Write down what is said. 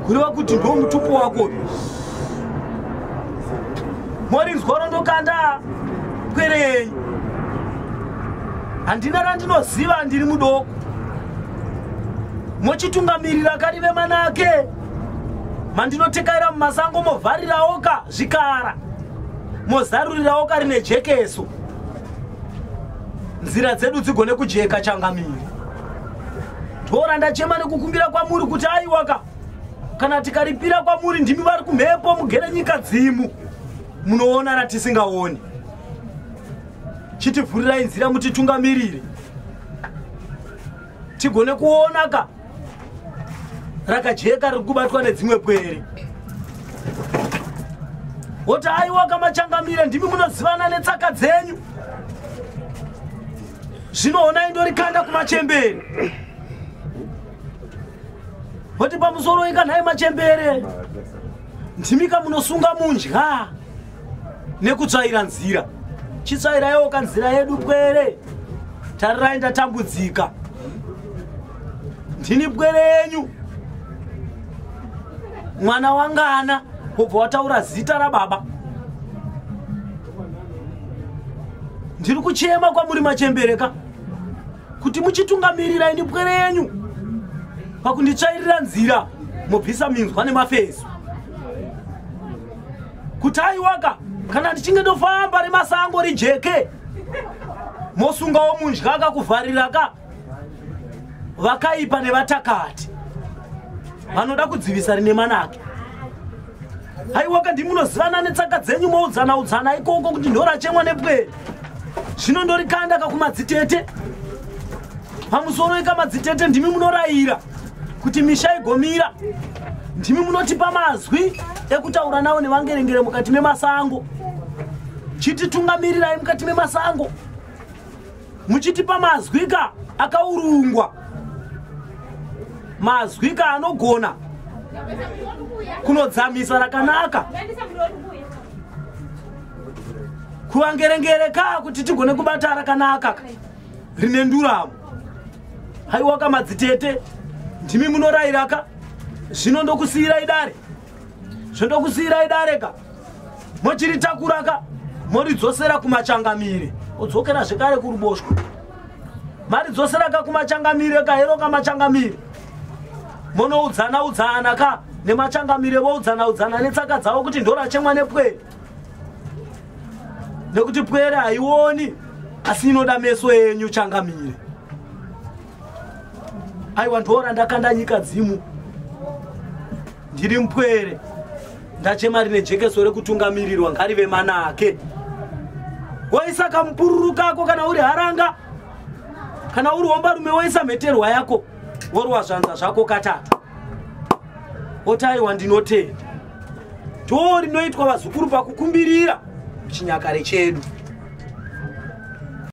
kureva kuti ndo mutupo wako morinzwa rondokanda pwere yenyu handina randinoziva ndiri mudoko mochitungamirira kari vemanake mandinotekaira mumasango movharirawo ka zvikara mozarurirawo kari nejekeso nzira dzedu dzigone kujeka changamiri dora ndachema nekukumbira kwamuri kuti aiwaka kana tikaripira kwamuri ndimi vari kumhepo mugere nyika dzimu munoona ratisingaoni chitivhurirai nzira mutitungamirire tigone kuona ka rakajeka riri kubatwa nedzimwe pwere woti aiwa kamachangamire ndimi munozivana netsaka dzenyu zvinoonai ndorikanda kumachembere voti pamusoro ika nhai machembere ndimika munosunga mundya nekutsvaira nzira chitsvairayoka nzira yedu pwere tarirai ndatambudzika ndini pwere yenyu mwana wangana wobva wataura zita rababa ndiri kuchema kwamuri machembere ka kuti muchitungamirira ini pwere yenyu pakunditsvairira nzira mobvisa minzwa nemafeso kuti aiwaka kana ndichinge ndofamba remasango rijeke mosungawo mundyaka kuvhariraka vakaipa nevatakati vanoda kudzivisa rine manake haiwa kandi munozivana netsaka dzenyu moudzana udzana ikoko kuti ndorachemwa nepwere zvino ndorikanda kakumadzitete pamusoro ikamadzitete ndimi munorayira kuti misha igomira ndimi munotipa mazwi ekutaura nawo nevangerengere mukati memasango chititungamirirai mukati memasango muchitipa mazwika akaurungwa mazwika anogona kunodzamisa rakanaka kuvangerengere ka kuti tigone kubata rakanaka rine nduramo haiwaka madzitete ndimi munorairaka zvino ndokusiyirai dare zvendokusiyirai dare ka mochiritakura ka moridzosera kumachangamire odzokera zvekare kuruboshwe maridzosera ka kumachangamire ka hero ka machangamire monoudzana udzana ka nemachangamire voudzana udzana netsaka dzavo kuti ndorachemwa nepwere nekuti pwere haioni asi inoda meso yenyu changamire aiwa ndoona ndakanda nyika dzimu ndiri mpwere ndachema rine jekeso rekutungamirirwa ngarive manake woisa kamupururu kako kana uri haranga kana uri wombarume woisa mheterwa yako worwa zvanza zvako katatu otaiwa ndinotenda too rinoitwa vazukuru pakukumbirira chinyakare chedu